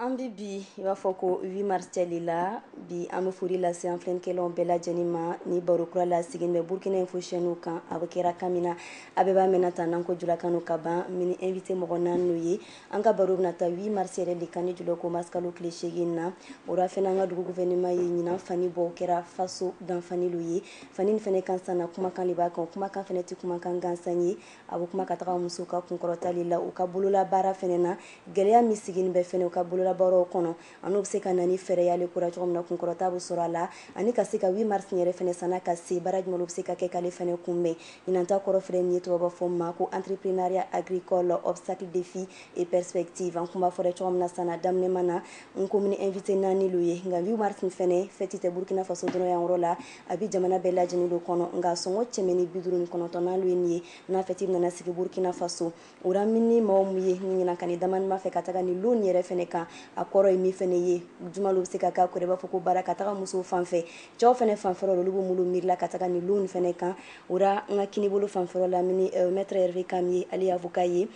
An bɛ bi i b'a fɔ ko 8 mars seli la bi an bɛ foli lase an filɛlikɛlaw bɛɛ lajɛlen ma ni baro kura la sigilen bɛ Burkina Info chaîne kan a bɛ kɛra kan min na a bɛɛ b'a mɛnna tan n'an ko julakan ka ban mini invité mɔgɔ naani lo ye An ka baro bɛna taa 8 mars yɛrɛ le kan ni jula ko mars kalo tile 8 in na. O ra fɛnɛ an ka dugu gouvernement ye ɲinan fani bɔ, o kɛra faso danfani lo ye. Fani nin fɛnɛ kan sanna, kumakan le b'a kan. O kumakan fɛnɛ tɛ kumakan gansan ye. A bɛ kuma ka taga musow ka kunkɔrɔta le la, u ka bololabaara fɛnɛ na. Gɛlɛya min sigini bɛ fɛnɛ u ka bololabaaraw kɔnɔ, an'u bɛ se ka na ni fɛɛrɛ y'ale ko ra cogo min na kunkɔrɔta bɛ sɔrɔ a la ani ka se ka 8 mars yɛrɛ fɛnɛ sanna ka se baara jumɛn bɛ se ka kɛ k'ale fɛnɛ kunbɛn ɲinan ta kɔrɔ filɛ nin ye tubabu b'a fɔ ma ko entrepreneuriat agricole obstacles défis et perspectives an kun b'a fɔra cogo min na sanna daminɛma na n ko mini invité naani lo ye nka 8 mars fɛnɛ fɛti tɛ Burkina Faso dɔrɔn yan yɔrɔ la a bɛ jamana bɛɛ lajɛlen lo kɔnɔ nka sɔngɔ cɛmɛ ni bi duuru ni kɔnɔntɔnnan lo ye nin ye n'a fɛti nana sigi Burkina Faso o ra min ni maaw min ye ni ɲininkali damanin b'an fɛ ka taga nin lon nin yɛrɛ fɛnɛ kan a kɔrɔ ye min fɛnɛ ye jumɛn lo bɛ se ka k'a kɔrɔ i b'a fɔ ko baara ka taga musow fan fɛ cɛw fɛnɛ fanfɛrɔ olu bɛ mun lo miirila ka taga nin lon nin fɛnɛ kan o ra n ka kinibolo fanfɛrɔ la min ni euh, maître Hervé Kam ye ale ye avocat ye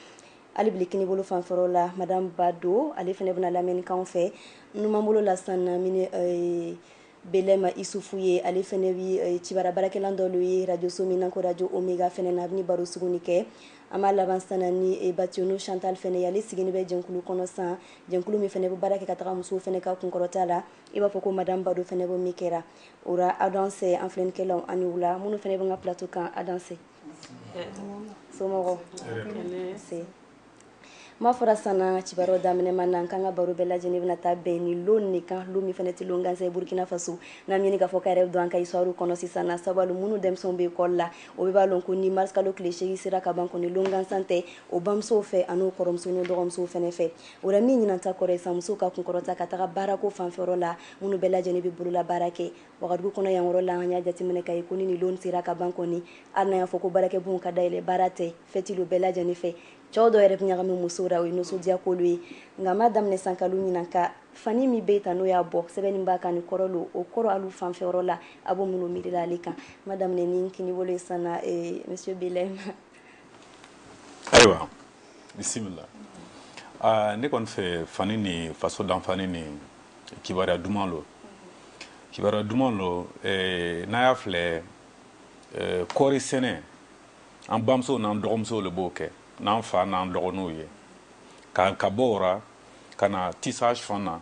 hali bili kinibolo fanfɛrɔ la madame Bado ale fɛnɛ bɛna lamɛnni k'an fɛ numanbolo la sanna min ni euh, Belem Isufu ye ale fɛnɛ bɛ cibaru baarakɛla dɔ lo ye radio so min na ko radio Omega fɛnɛ na a bɛ baro sugu nin kɛ an b'a laban sanna ni Bationo Chantal fɛnɛ ye ale sigilen bɛ jɛkulu kɔnɔ san jɛkulu min fɛnɛ bɛ baara kɛ ka taga musow fɛnɛ ka kunkɔrɔta la i b'a fɔ ko madame Bado fɛnɛ b'o min kɛra o ra a danse an filɛlikɛlaw a ni wula minnu fɛnɛ bɛ ka plateau kan a danse so ma fɔra sanna cibaru daminɛma na k'an ka baro bɛɛ lajɛlen bɛna taa bɛn nin don nin kan don min fɛnɛ tɛ don gansan ye Burkina Faso n'an ɲini k'a fɔ k'a yɛrɛ don an ka histoire kɔnɔ sisan sababu minnu denmisɛnw bɛ école la o b'a dɔn ko ni mars kalo tile 8 sera ka ban kɔni don gansan tɛ o bamusow fɛ ani kɔrɔmuso ni dɔgɔmusow fɛnɛ fɛ o la min ɲinan ta kɔrɔ ye san musow ka kunkɔrɔta ka taga baarako fanfɛ la minnu bɛɛ lajɛlen bɛ bolola baara kɛ Wagadugu kɔnɔ yan yɔrɔ la an y'a jateminɛ k'a ye ko ni don sera ka ban kɔni hali n'a y'a fɔ ko baarakɛbon ka da yɛlɛ baara tɛ fɛti lo bɛɛ lajɛlen fɛ cɛw dɔw yɛrɛ bɛ ɲagami musow ra o ye nisɔndiya ko lo ye nka ma daminɛ san kalo ɲinan ka fani min bɛ tan n'o y'a bɔ sɛbɛnni b'a kan ni kɔrɔ lo o kɔrɔ alu fanfɛyɔrɔ la a bɛ mun lo miirila ale kan ma daminɛ ni kinibolo ye sanna eh, monsieur Belem ayiwa bisimila ah, ne kɔni fɛ fani ni faso danfani ni kibaruya duman lo kibaruya duman lo eh, n'a y'a filɛ eh, kɔɔri sɛnɛ an bamusow n'an dɔgɔmusow le b'o kɛ n'an fa n'an dɔgɔninw ye ka ka bɔ o ra ka na tissage fan na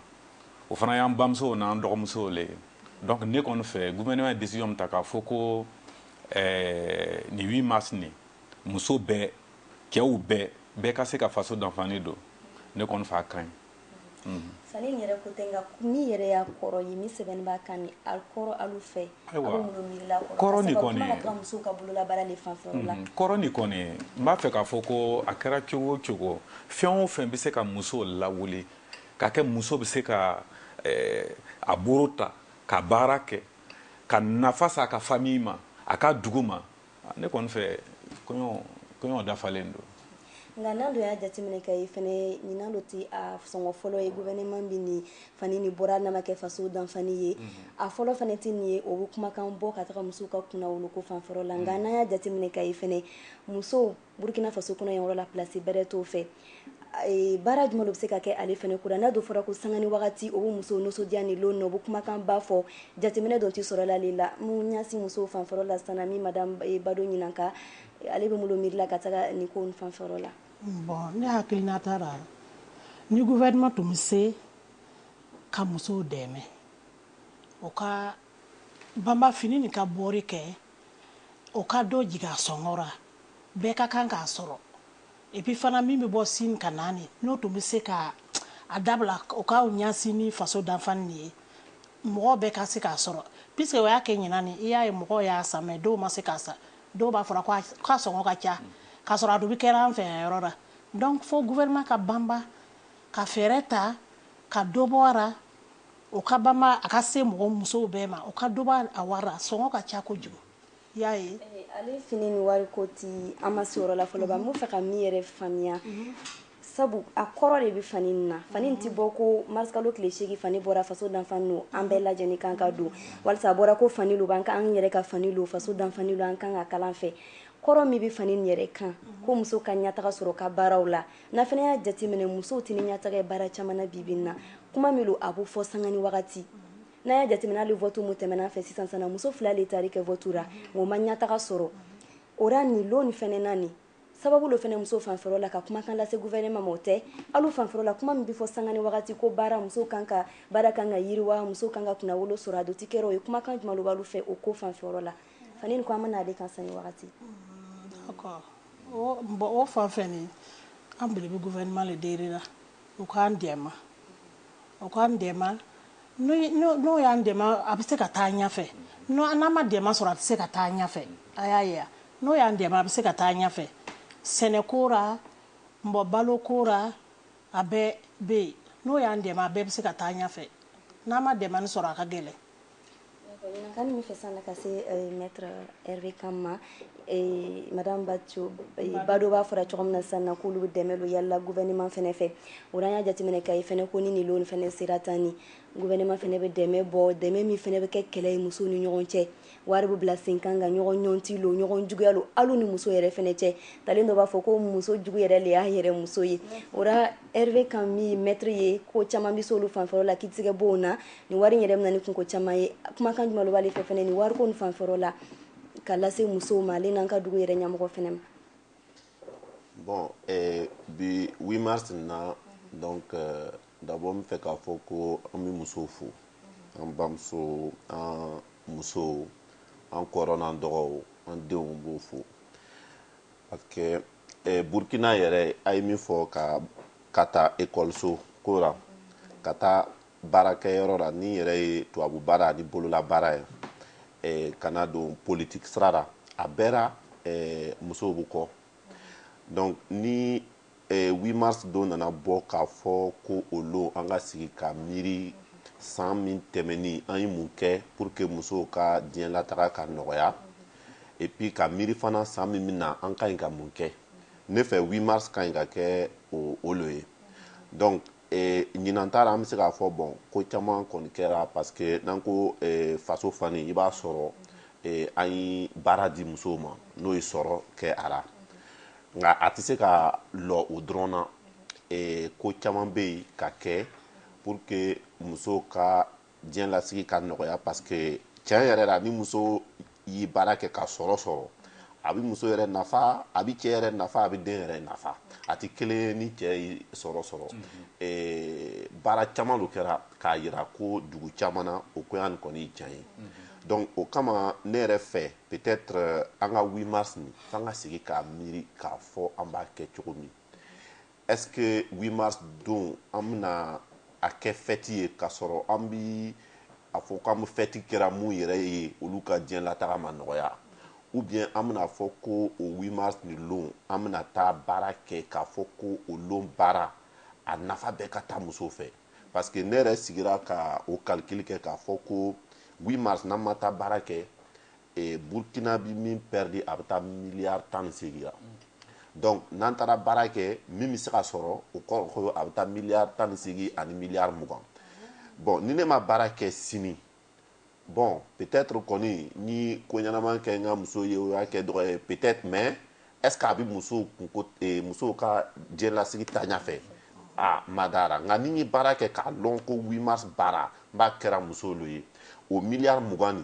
o fana y'an bamusow n'an dɔgɔmusow le ye donc ne kɔni fɛ gouvernement ye décision min ta k'a fɔ ko eh, nin 8 mars nin muso bɛɛ cɛw bɛɛ bɛɛ ka se ka faso danfani don ne kɔni fɛ a ka ɲi Fa yɛrɛ ko tɛ ni yɛrɛ y'a kɔrɔ ye ni sɛbɛn b'a kan ni ali kɔrɔ ali fɛ ka bolola b'a fɛ k'a fɔ ko a kɛra cogo o cogo fɛn o fɛn bɛ se ka muso lawu k ka kɛ muso bɛ se ka a bolo ta ka baara kɛ ka nafa sa a ka fa min ma a ka dugu ma Ah, ne kɔni fɛ kɔrɔ dafalen don nka n'an dun y'a jateminɛ k'a ye fɛnɛ ɲinan lo ti a sɔngɔ fɔlɔ ye gouvernement bi nin fani nin bɔra n'a ma kɛ faso danfani ye mhm. a fɔlɔ fɛnɛ ti nin ye o bɛ kumakan bɔ ka taga musow ka kunnawoloko fanfɛyɔrɔ la nka mhm. n'an y'a jateminɛ k'a ye fɛnɛ musow Burkina faso kɔnɔ yan yɔrɔ la place bɛrɛ t'o fɛ baara jumɛn lo bɛ se ka kɛ ale fɛnɛ ko ra n'a dun fɔra ko sanga ni wagati o bɛ musow nisɔndiya nin lon na o bɛ kumakanba fɔ jateminɛ dun ti sɔrɔ ale la min ɲasin musow fanfɛyɔrɔ la sisan madame Bado ɲininka ale bɛ mun lo miirila ka taga nin ko fanfɛyɔrɔ la bon ne hakilinata ra ni gouvernement tun bɛ se ka musow dɛmɛ o ka banba fini nin ka bɔri kɛ o ka dɔ jigin a sɔngɔ ra, bɛɛ ka kan k'a sɔrɔ, et puis fana min bɛ bɔ Chine ka na nin, n'o tun bɛ se ka a dabila o ka ɲasin nin faso danfani nin ye, mɔgɔ bɛɛ ka se k'a sɔrɔ, puisque o y'a kɛ ɲinan nin, i y'a ye mɔgɔw y'a san mais dɔw ma se k'a san, dɔw b'a fɔra k'a sɔngɔ ka ca, k'a sɔrɔ a dun bɛ kɛra an fɛ yan yɔrɔ ra, donc fo gouvernement ka banba ka fɛɛrɛ ta ka dɔ bɔ a ra. o ka banba a ka se mɔgɔ musow bɛɛ ma o ka dɔ bɔ a wari ra sɔngɔ ka ca kojugu i y'a ye ale fini nin wari ko ti an ma se yɔrɔ la fɔlɔ n b'a fɛ ka min yɛrɛ faamuya sabu a kɔrɔ de bɛ fani nin na fani nin tɛ bɔ ko mars kalo tile seegin fani bɔra faso danfani lo an bɛɛ lajɛlen kan k'a don walasa a bɔra ko fani lo an an yɛrɛ ka fani lo faso danfani lo an kan ka kalan fɛ kɔrɔ min bɛ fani yɛrɛ kan ko muso ka ɲɛ taga sɔrɔ ka baaraw la N'an fana y'a jateminɛ musow tɛ ni ɲɛtaga ye baara caman na bi bi in na kuma min lo a bɛ fɔ sanga ni wagati n'an y'a jateminɛ hali vote min tɛmɛna an fɛ sisan sisan na muso fila de taari kɛ vote ra nka o ma ɲɛtaga sɔrɔ o ra nin lon fana na nin sababu lo fana muso fanfɛyɔrɔ la ka kumakan lase gouvernement ma o tɛ alu fanfɛyɔrɔ la kuma min bɛ fɔ sanga ni wagati ko baara muso kan ka baara kan ka yiriwa muso kan ka kunnawolo sɔrɔ a dun ti kɛra o ye kumakan jumɛn lo b'alu fɛ o ko fanfɛyɔrɔ la fani nin ko an bɛna ale kan sanga ni wagati. o fan fɛ ni an bele bɛ gouvernement le deli la u k'an dɛmɛ u k'an dɛmɛ n'o y'an dɛmɛ a bɛ se ka taa ɲɛfɛ n'an ma dɛmɛ sɔrɔ a tɛ se ka taa ɲɛfɛ a y'a ye n'o y'an dɛmɛ a bɛ se ka taa ɲɛfɛ sɛnɛ ko ra mɔgɔ balo ko ra a bɛɛ bɛ yen n'o y'an dɛmɛ a bɛɛ bɛ se ka taa ɲɛfɛ n'an ma dɛmɛ sɔrɔ a ka gɛlɛn Kan min fɛ san ka se maître Hervé Kam ma madame Bado b'a fɔra cogo min na sisan na k'olu dɛmɛ don yala gouvernement fana fɛ o y'a jateminɛ k'a ye fana ko nin fana sera tan ni gouvernement fana bɛ dɛmɛ bɔ dɛmɛ min fana bɛ kɛ kɛlɛ ye musow ni ɲɔgɔn cɛ wari bɛ bila sen kan ka ɲɔgɔn ɲɔnti don ɲɔgɔn juguya don hali ni muso yɛrɛ fana cɛ ta dɔ b'a fɔ ko muso jugu yɛrɛ de y'a yɛrɛ muso ye o la Hervé Kam maître ye ko caman bɛ se olu fanfɛ la k'i tɛ se ka bɔ o na ni wari yɛrɛ bɛ na ni kunko caman ye kumakan jumɛn lo b'ale fɛ fana ni wari ko nin fanfɛ la ka lase musow ma ale n'an ka dugu yɛrɛ ɲɛmɔgɔ fana ma bon eh, bi 8 mars na donc euh, d'abord n fɛ k'a fɔ ko an bɛ musow fo an bamuso an musow an kɔrɔ n'an dɔgɔw an denw b'o fo parce que eh, Burkina yɛrɛ a ye min fɔ ka ka taa ekɔliso ko la ka taa baarakɛyɔrɔ la ni yɛrɛ ye tubabu baara ani bolola baara ye eh, ka na don politiki sira la a bɛɛra eh, musow bɛ kɔ donc ni eh, 8 mars don nana bɔ k'a fɔ ko o lon an ka sigi ka miiri san min tɛmɛni an ye mun kɛ pour que musow ka diɲɛ lataga ka nɔgɔya et puis ka miiri fana san min bɛ na an ka ɲi ka mun kɛ ne fɛ 8 mars ka ɲi ka kɛ o o lo ye donc Eh, ɲinan ta ra an bɛ se k'a fɔ bon ko caman kɔni kɛra parce que n'an ko eh, faso fani i b'a sɔrɔ eh, an ye baara di musow ma n'o ye sɔrɔ kɛ a la nka a tɛ se ka lɔ o dɔrɔn na eh, ko caman bɛ yen ka kɛ pour que musow ka diɲɛ lasigi ka nɔgɔya parce que tiɲɛ yɛrɛ la ni muso yi baara kɛ ka sɔrɔ sɔrɔ a bɛ muso yɛrɛ nafa a bɛ cɛ yɛrɛ nafa a bɛ den yɛrɛ nafa a tɛ kelen ye ni cɛ yi sɔrɔ sɔrɔ baara caman lo kɛra k'a yira ko dugu caman na o ko yan kɔni ye tiɲɛ ye donc o kama ne yɛrɛ fɛ peut-être an ka 8 mars nin f'an ka sigi k'a miiri k'a fɔ an b'a kɛ cogo min Est-ce que 8 mars don an bɛna a kɛ fête ye k'a sɔrɔ an bɛ a fɔ k'an bɛ fête kɛra mun yɛrɛ ye olu ka diɲɛlataga ma nɔgɔya ou bien an bɛna fɔ ko o 8 mars nin lon an bɛna taa baara kɛ k'a fɔ ko o lon baara a nafa bɛɛ ka taa musow fɛ parce que ne yɛrɛ sigira ka o calcul kɛ k'a fɔ ko 8 mars n'an ma taa baara kɛ Burukina bɛ min pɛridi a bɛ taa miliyari tan ni segin la donc n'an taara baara kɛ min bɛ se ka sɔrɔ o kɔrɔ a bɛ taa miliyari tan ni segin ani miliyari mugan bon ni ne ma baara kɛ sini bon peut-être kɔni ni ko ɲɛnaman kɛ n ka muso ye o y'a kɛ dɔgɔ ye peut-être mais est-ce a bɛ muso musow ka diɲɛlasigi taa ɲɛ fɛ aa n ma da a ra nka ni n ye baara kɛ k'a dɔn ko 8 mars baara n b'a kɛra muso lo ye o miliyari mugan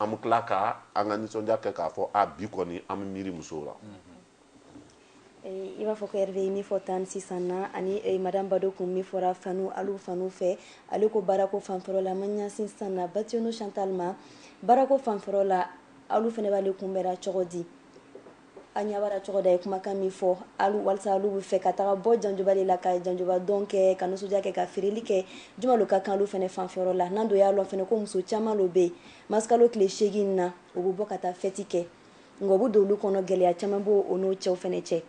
an bɛ tila ka an ka nisɔndiya kɛ k'a fɔ a bi kɔni an bɛ miiri musow la i b'a fɔ ko Hervé ye min fɔ tan sisan na ani madame Bado kun min fɔra fanu alu fanu fɛ ale ko baarako fanfɛyɔrɔ la ma ɲɛsin sisan na Bationo Chantal ma baarako fanfɛyɔrɔ la alu fana b'ale kunbɛra cogo di A ɲɛ b'a ra cogo d'a ye kumakan min fɔ walisa alu bɛ fɛ ka taga bɔ janjoba de la ka janjoba dɔn kɛ ka nisɔndiya kɛ ka feereli kɛ juman lo ka kan alu fana fanfɛyɔrɔ la n'an dun y'a lɔn fana ko muso caman lo bɛ yen mars kalo tile seegin na u bɛ bɔ ka taa fɛti kɛ nka o bɛ don o lu kɔnɔ gɛlɛya caman b'o n'o cɛw fana cɛ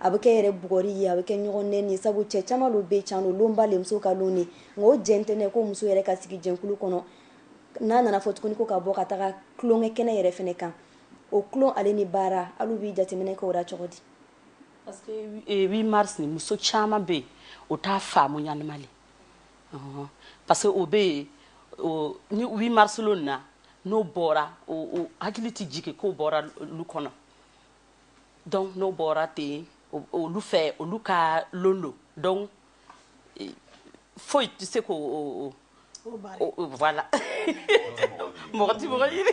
a bɛ kɛ yɛrɛ bugɔri ye a bɛ kɛ ɲɔgɔn nɛni sabu cɛ caman lo bɛ can donba de muso ka don de nka o jɛn tɛ ko muso yɛrɛ ka sigi jɛkulu kɔnɔ n'a nana fɔ tuguni ko ka bɔ ka taga tulonkɛ kɛnɛ yɛrɛ fana kan o tulon ale ni baara alu bi jateminɛ kɛ o la cogo di parce que eh, 8 mars ni muso caman bɛ yen o t'a faamu ɲanama le ɔhɔn parce que o bɛ yen o ni 8 mars lon nin na n'o bɔra o o hakili tɛ jigin k'o bɔra lu kɔnɔ donc n'o bɔra ten olu fɛ olu ka lon don donc foyi tɛ se k'o voilà mɔgɔ tɛ mɔgɔ ɲini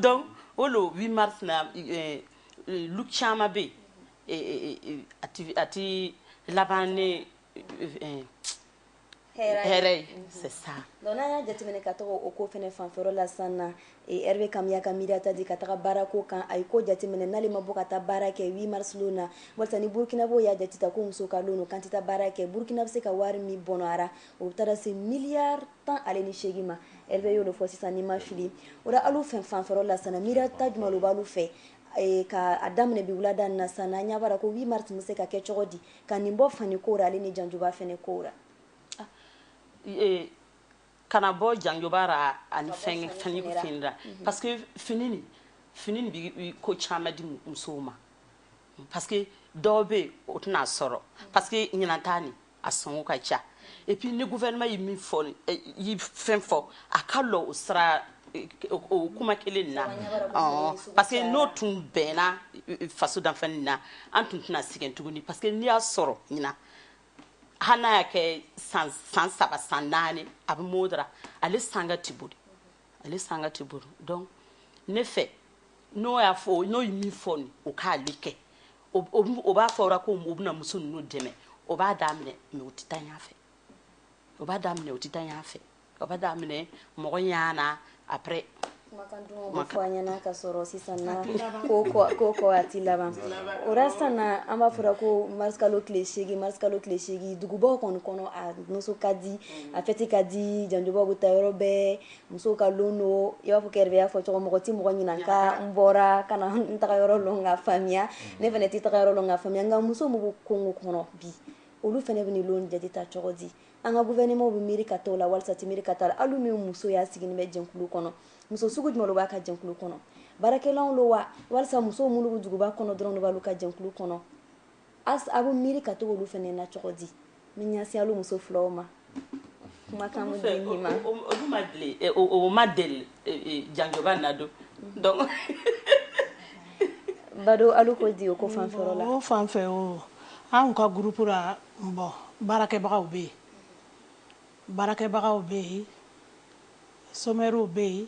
donc o le 8 mars na euh, euh, lu caman bɛ yen a ti laban ni euh, hɛrɛ c'est ça donc n'an y'a jateminɛ ka taga o ko fana fanfɛyɔrɔ la sisan na Hervé Kamiya ka miiriya ta di ka taga baara ko kan a ye ko jateminɛ n'ale ma bɔ ka taa baara kɛ 8 mars lon na walasa ni burukinabɛw y'a jate ta ko muso ka don k'an tɛ taa baara kɛ burukina bɛ se ka wari min bɔnɔra o bɛ taara se miliyari tan ale ni seegin ma Hervé y'o de fɔ sisan ni n ma fili o la alu fɛnɛ fanfɛyɔrɔ la sisan miiriya ta jumɛn b'alu fɛ ka daminɛ bi wulada na sisan na an ɲa b'a ko 8 mars tun bɛ se ka kɛ cogo di ka nin bɔ fani ko ra ale ni janjoba fɛnɛ ko ra ah, e, kana bɔ janjoba ra ani fɛn fani fini ra mhm. parce que fini ni fini ni bi ko caman di musow ma parce que dɔw bɛ yen o tɛna sɔrɔ parce que ɲinan ta nin a sɔngɔ ka ca et puis ni gouvernement ye min fɔ ye fɛn fɔ a ka lɔ o sira kuma kelen na parce que n'o tun bɛnna faso danfani na an tun tɛna sɛgɛn tuguni parce que n'i y'a sɔrɔ ɲinan hali n'a y'a kɛ san san saba san naani a bɛ mode ra ale sanga tɛ boli ale sanga tɛ boli donc ne fɛ n'o y'a fɔ n'o ye min fɔ nin o k'ale kɛ o b'a fɔra ko o bɛna muso ninnu dɛmɛ o b'a daminɛ mais o tɛ taa ɲɛ fɛ o b'a daminɛ o tɛ taa ɲɛ fɛ o b'a daminɛ mɔgɔ ɲana après ɲɛna ka sɔrɔ sisan ko ko a tɛ laban o sisan an b'a fɔra ko marisikalo tile marisikalo tile seegin dugubaw kɔni kɔnɔ a muso ka di a fɛti ka di janjobaw bɛ taa yɔrɔ bɛɛ musow ka don don i b'a fɔ y'a fɔ cogo mɔgɔ tɛ mɔgɔ ɲɛna ka n bɔra ka n taga yɔrɔ dɔn ka faamuya ne fana tɛ taga yɔrɔ dɔn ka faamuya nka muso min bɛ kongo kɔnɔ bi olu fana bɛ don jate ta cogo di an ka gouvernement bɛ miiri ka t'o la walisa tɛ miiri ka t'a la alu min muso y'a sigilen bɛ jɛnkulu kɔnɔ muso sugu jumɛn b'a ka jɛnkulu kɔnɔ baarakɛlaw lo wa walisa musow minnu bɛ duguba kɔnɔ dɔrɔn de b'alu ka jɛnkulu kɔnɔ a bɛ miiri ka to olu fana na cogo di n bɛ ɲɛsin alu muso filaw ma kumakan bɛ di nin ma olu ma deli eh, o ma deli eh, eh, janjoba na don mm-hmm. donc Bado alu ko di o ko fanfɛ o la o fanfɛ o an ka groupe la Bon baarakɛbagaw bɛ yen, baarakɛbagaw bɛ yen, somɛriw bɛ yen,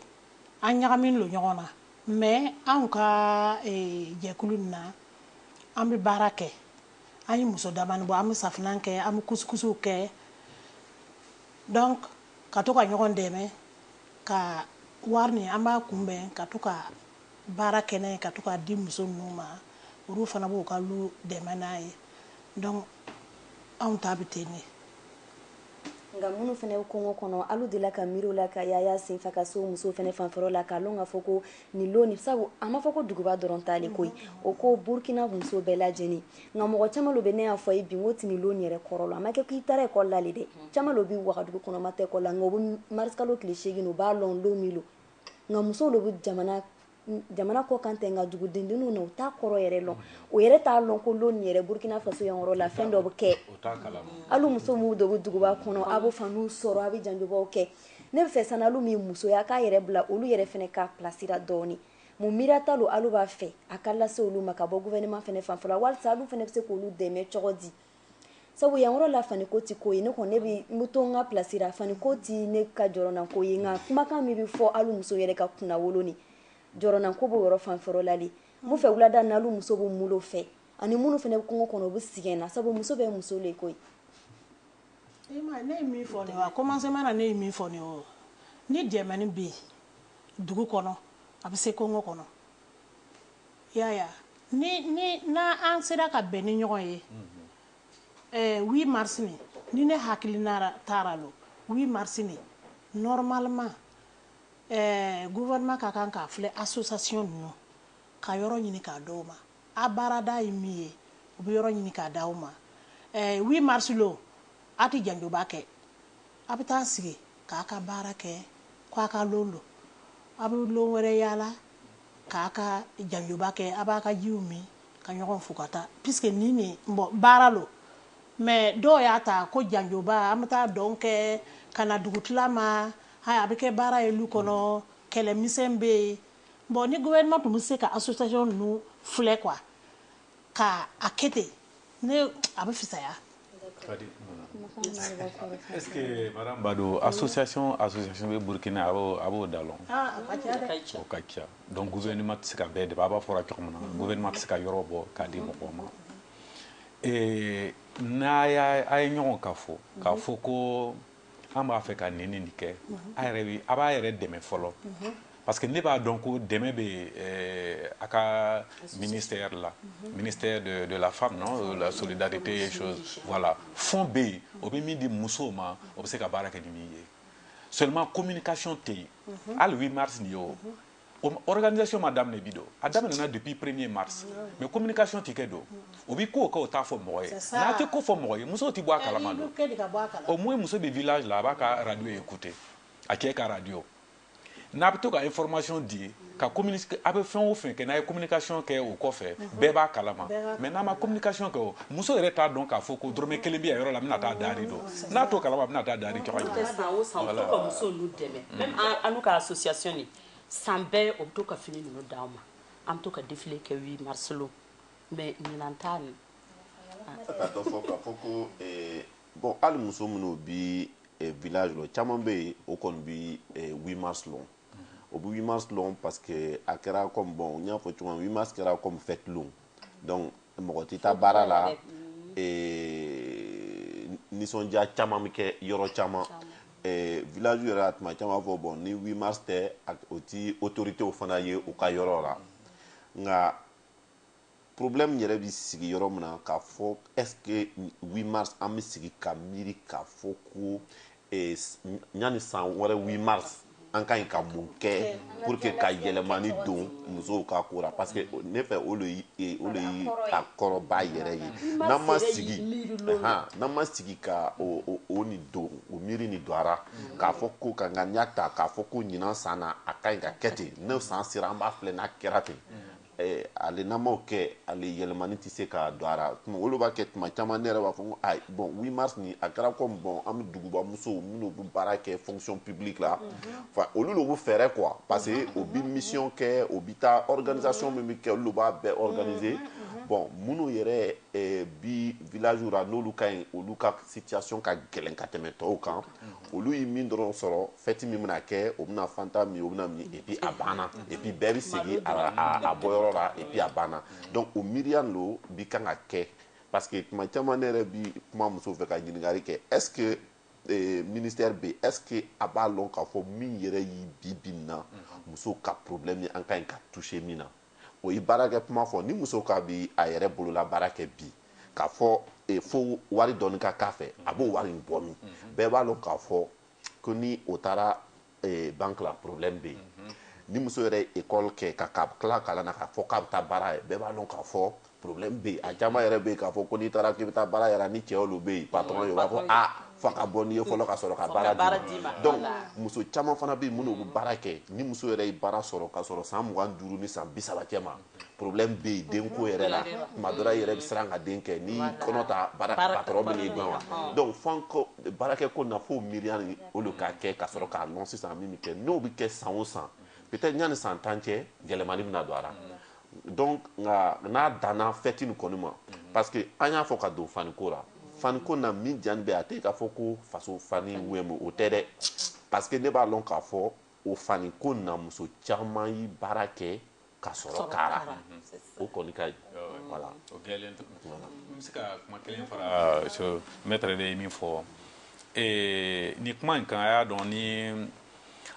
an ɲagaminen lo ɲɔgɔn na mais anw ka jɛkulu in na, an bɛ baara kɛ, an ye muso damani bɔ, an bɛ safinɛ kɛ, an bɛ kusikusiw kɛ donc ka to ka ɲɔgɔn dɛmɛ ka wari nin an b'a kunbɛn ka to ka baara kɛ n'a ye ka to k'a di muso ninnu ma olu fana b'u ka lu dɛmɛ n'a ye donc anw ta bɛ ten de. Nka minnu fana bɛ kongo kɔnɔ, alu delila ka miiri o la ka yaala senfɛ ka se o musow fana fanfɛyɔrɔ la k'a lɔn ka fɔ ko nin lon nin sabu a ma fɔ ko duguba dɔrɔn ta le koyi o ko Burkina muso bɛɛ lajɛlen nka mɔgɔ caman lo bɛ ne y'a fɔ a ye bi n k'o ti nin lon yɛrɛ kɔrɔ lɔn a ma kɛ ko i taara ekɔli la le dɛ caman lo bi Wagadugu kɔnɔ ma taa ekɔli la nka u bɛ marisikalo tile seegin u b'a lɔn lon min lo nka musow lo bɛ jamana jamana kɔ kan tɛ nka dugudenninw na u t'a kɔrɔ yɛrɛ lɔn o yɛrɛ t'a lɔn ko lon yɛrɛ burukina faso yɔrɔ la fɛn dɔ bɛ kɛ alu muso minnu dɔ bɛ duguba kɔnɔ a bɛ faniw sɔrɔ a bɛ janjobaw kɛ ne b'a fɛ sisan alu min musoya k'a yɛrɛ bila olu yɛrɛ fana ka place ra dɔɔnin mun miiriya ta lo alu b'a fɛ a ka lase olu ma ka bɔ gouvernement fana fan walasa olu fana bɛ se k'olu dɛmɛ cogo di sabu yan yɔrɔ la fani ko tɛ ko ye ne kɔni ne bɛ n bɛ to n ka place la fani ko tɛ ne ka jɔrɔna ko ye nka kumakan min bɛ fɔ hali muso yɛrɛ ka kunnawolo ni jɔrɔna ko b'o yɔrɔ fan fɛ yɔrɔ la de mun fɛ wulada na hali muso bɛ mulo fɛ ani minnu fana bɛ kungo kɔnɔ u bɛ sigɛn na sabu muso bɛɛ muso le koyi. ne ye min fɔ nin ye a commencement na ne ye min fɔ nin ye o ni dɛmɛni bɛ yen dugu kɔnɔ a bɛ se kungo kɔnɔ. Yaya n'an sera ka bɛn ni ɲɔgɔn ye 8 mars nin ni ne hakili taara don 8 mars nin normalement gouvernement ka kan k'a filɛ association ninnu ka yɔrɔ ɲini k'a di aw ma a baarada ye min ye u bɛ yɔrɔ ɲini k'a di aw ma 8 mars lo a tɛ janjoba kɛ A bɛ taa sigi k'a ka baara kɛ ko a ka lon don. A bɛ lon wɛrɛ yaala k'a ka janjoba kɛ, a b'a ka jiw min ka ɲɔgɔn fo ka taa puisque nin nin bon baara lo mais dɔw y'a ta ko janjoba an bɛ taa dɔn kɛ ka na dugutila ma a bɛ kɛ baara ye lu kɔnɔ kɛlɛ misɛn bɛ yen bon ni gouvernement tun bɛ se ka association ninnu filɛ quoi Ka a kɛ ten ne a bɛ fisaya ba don a sososasɔn a sososɛ bɛ burukina a a b'o da dɔn ka ca dɔn ma tɛ se ka bɛɛ de a b'a fɔra cogo na ma tɛ se ka yɔrɔ bɔ k'a di mɔgɔ ma n'a y' a ye ɲɔgɔn ka fɔ k'a fɔ ko an b'a fɛ ka nin nin kɛ a yɛrɛ a b'a yɛrɛ dɛmɛ fɔlɔ parce que ne b'a dɔn ko dɛmɛ bɛ eh, a ka ministère la ministère de, de la femme non la solidarité et chose voilà fond bɛ yen o bɛ min di musow ma o bɛ se ka baara kɛ ni min ye seulement communication tɛ yen hali 8 mars nin ye o O organisation ma daminɛ bi don a daminɛna depuis premier mars mais communication tɛ kɛ donc o bɛ kow kɛ o t'a fɔ mɔgɔ ye n'a tɛ ko fɔ mɔgɔ ye musow tɛ bɔ a kalama donc au moins muso bɛ village la a b'a ka radio écouter a cɛ ka radio n'a bɛ to ka information di ka communiquer a bɛ fɛn o fɛn kɛ n'a ye communication kɛ o kɔfɛ bɛɛ b'a kalama mais n'a ma communication kɛ o muso yɛrɛ t'a dɔn k'a fɔ ko dɔrɔmɛ kelen bɛ yɔrɔ la bɛna taa daari dɔn n'a to kalaba bɛna taa daari jɔ ye san bɛɛ o bɛ to ka fini ninnu d' ma an bɛ to ka defi kɛ wi mari mɛ ɲin t' min bɔn hali muso minnu bɛ viyaz caman bɛ yen o kɔni bɛ wi ma slɔn o bɛ wi ma slɔn pa que a kɛra bɔn n y'a fɔ cogo wi ma sera fɛ tulon mɔgɔ tɛ taa baara la nisɔndiya caman bɛ kɛ yɔrɔ caman village yɛrɛ la tuma caman b'a fɔ bon ni 8 mars tɛ o tɛ autorités fana ye u ka yɔrɔ la nka problème yɛrɛ bɛ sigi yɔrɔ min na k'a fɔ est ce que 8 mars an bɛ sigi ka miiri k'a fɔ ko Yanni san wɛrɛ 8 mars an ka ɲi ka mun kɛ pour que ka yɛlɛmani don musow ka ko la parce que ne fɛ o de ye o de ye a kɔrɔba yɛrɛ ye n'an ma sigi han n'an ma sigi ka o o o nin don o miiri nin don a ra k'a fɔ ko ka ŋaniya ta k'a fɔ ko ɲinan san na a ka ɲi ka kɛ ten n'o san sera an b'a filɛ n'a kɛra ten Eh, ale n'an m'o kɛ ale yɛlɛmani tɛ se ka don a ra o le b'a kɛ tuma caman ne yɛrɛ b'a fɔ ko ayi bon 8 mars nin a kɛra comme bon an bɛ duguba musow minnu bɛ baara kɛ fonction publique la olu de bɛ fɛrɛ quoi parce que o bɛ mission kɛ o bɛ taa organisation min bɛ kɛ olu b'a bɛɛ organiser bon minnu yɛrɛ bi village ra n'olu ka ɲi olu ka situation ka gɛlɛn ka tɛmɛ tɔw kan olu ye min dɔrɔn sɔrɔ fête min bɛna kɛ o bɛna fanta min o bɛna min et puis a banna et puis bɛɛ bɛ segin a bɔyɔrɔ la et puis a banna donc o miiriya lo bi kan ka kɛ parce que tuma caman ne yɛrɛ bi kuma muso fɛ ka ɲininkali kɛ est ce que ministère bɛ est ce que a b'a lɔn k'a fɔ min yɛrɛ ye bi bi in na muso ka problème ye an ka ɲi ka toucher min na O ye baarakɛ kuma fɔ. Ni muso k'a bi a yɛrɛ bolola baara kɛ bi, k'a fɔ fo wari dɔɔni ka k'a fɛ, a b'o wari in bɔ min? Bɛɛ b'a lɔn k'a fɔ ko ni o taara banque la problème bɛ yen. Ni muso yɛrɛ ye école kɛ ka tila kalan na k'a fɔ k'a bɛ taa baara la, bɛɛ b'a lɔn k'a fɔ problème bɛ yen a caman yɛrɛ bɛ yen k'a fɔ ko n'i taara k'i bɛ taa baara yɛrɛ ni cɛ olu bɛ yen patron ye u b'a fɔ f'a ka bɔ n'i ye fɔlɔ ka sɔrɔ ka baara d'i ma donc muso caman fana bɛ yen minnu bɛ baara kɛ ni muso yɛrɛ ye baara sɔrɔ ka sɔrɔ san mugan duuru ni san bi saba cɛ ma problème bɛ yen denko yɛrɛ la tuma dɔ la i yɛrɛ bɛ siran ka den kɛ n'i kɔnɔ ta baara patron bɛn'i gɛn wa donc f'an ko baarakɛ ko na f'o miiriya nin o de ka kɛ ka sɔrɔ k'a lɔn sisan min bɛ kɛ n'o bɛ kɛ san o san peut-être yanni san tan cɛ yɛlɛmani bɛna don a la donc nka n'a danna fête nin kɔni ma parce que an y'a fɔ ka don faniko la faniko na min diyanin bɛ a tɛ k'a fɔ ko faso fani wɛmu o tɛ dɛ parce que ne b'a lɔn k'a fɔ o faniko na muso caman ye baara kɛ ka sɔrɔ k'a ra o kɔni ka ɲi voilà o gɛlɛn tɛ n bɛ se ka kuma kelen fara maître de ye min fɔ nin kuma in kan a y'a dɔn ni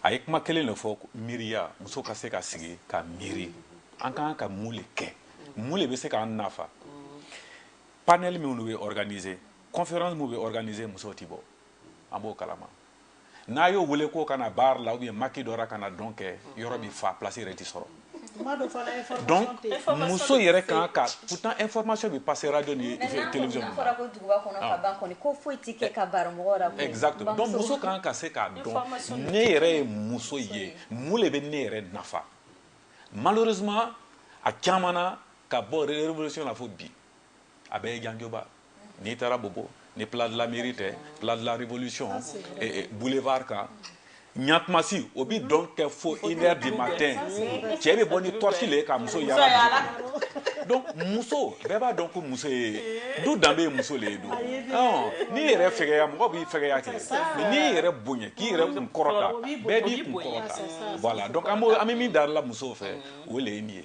a ye kuma kelen de fɔ miiriya muso ka se ka sigi ka miiri an ka kan ka mun de kɛ mun de bɛ se k'an nafa panel minnu bɛ organiser conférence minnu bɛ organiser musow tɛ bɔ an b'o kalama n'a y'o wele k'o ka na bar la ou bien maquis dɔ la ka na dɔn kɛ yɔrɔ bɛ fa place yɛrɛ tɛ sɔrɔ donc muso yɛrɛ kan ka pourtant information bɛ passer radio ni télévision na exactement donc muso kan ka se k'a dɔn ne yɛrɛ ye muso ye mun de bɛ ne yɛrɛ nafa malheureusement a caman na ka bɔ révolution la fo bi a bɛɛ ye janjoba n'i taara Bobo ni place de la mairie tɛ place de la révolution boulevard kan ni a tuma se o bi dɔn kɛ fo une heure du matin cɛ bɛ bɔ ni torche le ye ka muso yaala donc muso bɛɛ b'a dɔn ko muso ye du danbe ye muso le ye don n'i yɛrɛ fɛgɛya mɔgɔ b'i fɛgɛya kɛ mais n'i yɛrɛ bonya k'i yɛrɛ kun kɔrɔta bɛɛ b'i kun kɔrɔta voilà donc an bɛ min darila musow fɛ o le ye nin ye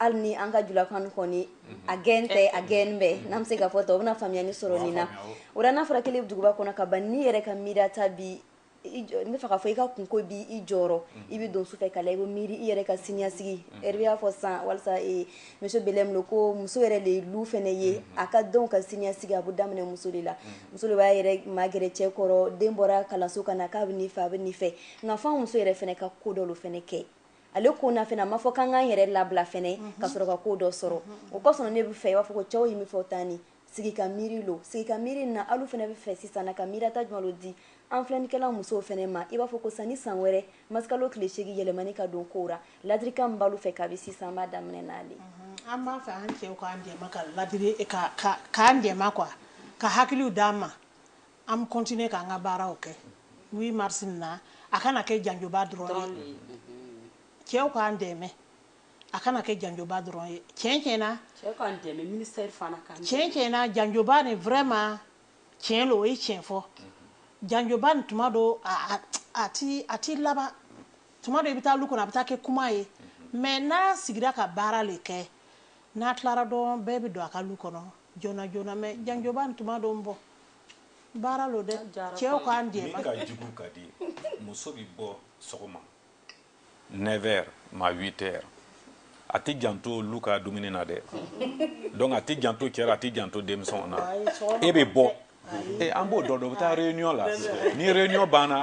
Hali ni an ka julakan kɔni a gɛn tɛ a gɛn bɛɛ n'an bɛ se k'a fɔ ten o bɛna faamuyaani sɔrɔ nin na o la n'a fɔra k'ele bɛ duguba kɔnɔ ka ban n'i yɛrɛ ka miiriya ta bi n bɛ fɛ k'a fɔ i ka kunko bi i jɔrɔ i bɛ don su fɛ ka la i bɛ miiri i yɛrɛ ka siniɲasigi Hervé y'a fɔ sisan walasa monsieur Belem lo ko muso yɛrɛ de ye lu fɛnɛ ye a ka denw ka siniɲasigi a bɛ daminɛ muso de la muso de b'a yɛrɛ magɛrɛ cɛ kɔrɔ den bɔra kalanso ka na k'a bɛ nin fɛ a bɛ nin fɛ nka fɔ muso yɛrɛ fɛnɛ ka ko dɔ lo fɛnɛ kɛ ale ko na fɛnɛ a ma fɔ k'an k'an yɛrɛ labila fɛnɛ ka sɔrɔ ka ko dɔ sɔrɔ o kɔsɔn ne bɛ fɛ i b'a fɔ ko cɛw ye min fɔ tan ni sigi ka miiri lo sigi ka miiri na alu fɛnɛ bɛ fɛ sisan na ka miiriya ta jumɛn lo di an filɛnikɛla musow fɛnɛ ma i b'a fɔ ko sanni san wɛrɛ mars kalo tile seegin yɛlɛmani ka don kow ra ladirikan min b'alu fɛ kabi sisan an b'a daminɛ n'ale an b'a fɛ an cɛw k'an dɛmɛ ka ladiri k'an dɛmɛ quoi ka hakiliw d'an ma An bɛ continuer k'an ka baaraw kɛ 8 mars in na, a kana kɛ janjoba dɔrɔn ye, cɛw k'an dɛmɛ, a kana kɛ janjoba dɔrɔn ye, tiɲɛ tiɲɛ na, cɛw k'an dɛmɛ, ministère fana k'an dɛmɛ, tiɲɛ tiɲɛ na janjoba nin vraiment tiɲɛ lo, o ye tiɲɛ fɔ, janjoba nin tuma dɔ a ti laban, tuma dɔ i bɛ taa lu kɔnɔ a bɛ taa kɛ kuma ye mais n'a sigira ka baara le kɛ, n'a tilara dɔrɔn bɛɛ bɛ don a ka lu kɔnɔ joona joona mais janjoba nin tuma dɔ n bɔ baara lo dɛ cɛw k'an dɛmɛ min ka jugu ka di muso bɛ bɔ sɔgɔma 9 heures ma 8 heures a tɛ janto lu ka dumuni na dɛ donc a tɛ janto cɛ ra a tɛ janto denmisɛnw na e bɛ bɔ e an b'o dɔn dɔ bɛ taa réunion la ni réunion banna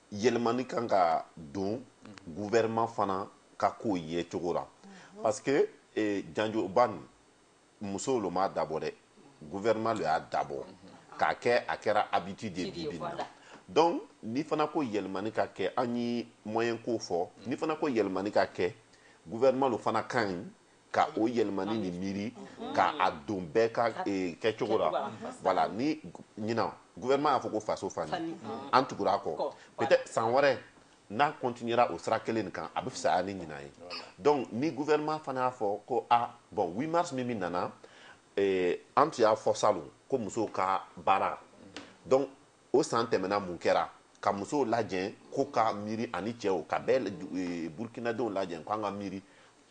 yɛlɛmani kan ka don gouvernement fana ka ko ye cogo la parce que eh, janjoba nin musow lo m'a dabɔ dɛ gouvernement lo y'a dabɔ k'a kɛ a kɛra habitude ye bibi nin na donc ni fana ko yɛlɛmani ka kɛ an ye moyen ko fɔ ni fana ko yɛlɛmani ka kɛ gouvernement lo fana ka ɲi ka o yɛlɛmani ni miiri ka a don bɛɛ ka eh, kɛcogo la voilà ni ɲinan gouvernement y'a fɔ ko faso fani an tugura a kɔ peut-être san wɛrɛ n'a continuera o sira kelen nin kan a bɛ fisaya ni ɲinan ye donc ni gouvernement fana y'a fɔ ko a ah, bon 8 mars min min nana eh, an tun y'a fɔ salon ko musow ka baara donc o san tɛmɛna mun kɛra ka musow lajɛ k'o ka miiri ani cɛw ka bɛɛ eh, burukinadenw lajɛ k'an ka miiri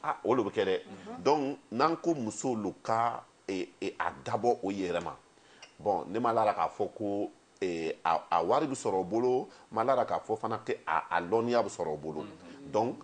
Ah, o lo bɛ kɛ dɛ donc n'an ko musow lo ka a dabɔ o yɛrɛ ma bon ne ma lara k'a fɔ ko a wari bɛ sɔrɔ o bolo ma lara k'a fɔ fana que a lɔnniya bɛ sɔrɔ o bolo donc